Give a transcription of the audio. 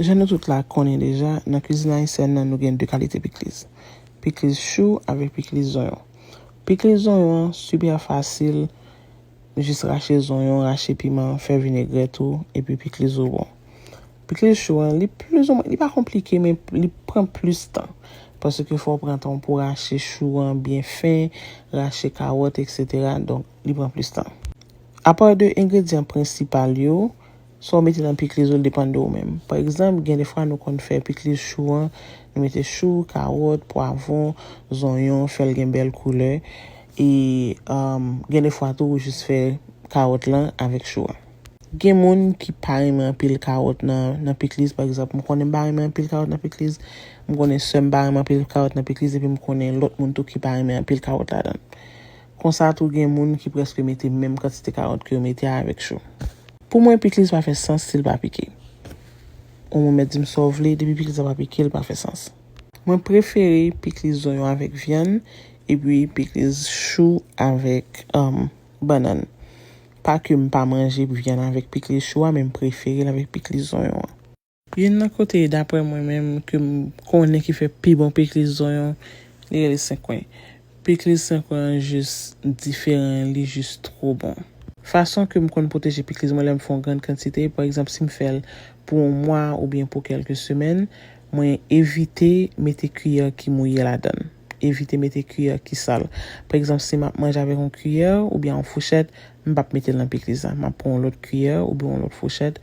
Jan nou tout la konnen deja, nan kwizin ayisyèn nan nou gen 2 kalite pikliz. Pikliz chou avèk pikliz zonyon. Pikliz zonyon an super fasil, jis rache zonyon, rache piman, fè vinegrèt ou, epi pikliz ou bon. Pikliz chou an, li plis ou mwen, li pa konplike men li pran plis tan. Paske fò ou pran tan ou pou rache chou an byen fen, rache kawòt eksetera, donk li pran plis tan. Apa de engredyan prensipal yo. Sa w mete nan pikliz ou l depann de ou menm. Pa egzanp, gen de fwa nou konn fè pikliz chou an, nou mete chou, kawòt, pwavwon, zonyon, fè l gen bèl koulè. E gen de fwa tou ou jis fè kawòt lan avèk chou an. Gen moun ki pa renmen anpil kawòt nan pikliz. Pa egzanp, m konnen m pa renmen anpil kawòt nan pikliz. M konnen sè m pa renmen anpil kawòt nan pikliz epi m konnen lòt moun tou ki pa renmen anpil kawòt ladan l. Konsa tou gen moun ki prèske mete menm kantite kawòt ke yo mete avèk chou. Pou mwen pikliz pa fè sans sil pa pike. Ou mwen mèt dim saw vle depi pikliz la pa pike li pa fè sans. Mwen prefere pikliz zonyon avèk vyann epi pikliz chou avèk bannann. Pa kem pa manje vyann avèk pikliz chou a men m preferel avèk pikliz zonyon an. Youn nan kote daprè mwen menm ke m konnen ki fè pi bon pikliz zonyon, li rele senkwen. Pikliz senkwen an jis diferan, li jis two bon. Fason ke m konn pwoteje pikliz mwen lè m fè yon grann kantite, pa egzanp si m fè l pou yon mwa oubyen pou kèlke semèn, mwen evite mete kiyè ki mouye ladan l, evite mete kiyè ki sal. Pa egzanp si m ap manje avèk yon kiyè oubyen yon fouchèt, m p ap mete l nan pikliz la, m ap pran yon lòt kiyè oubyen yon lòt fouchèt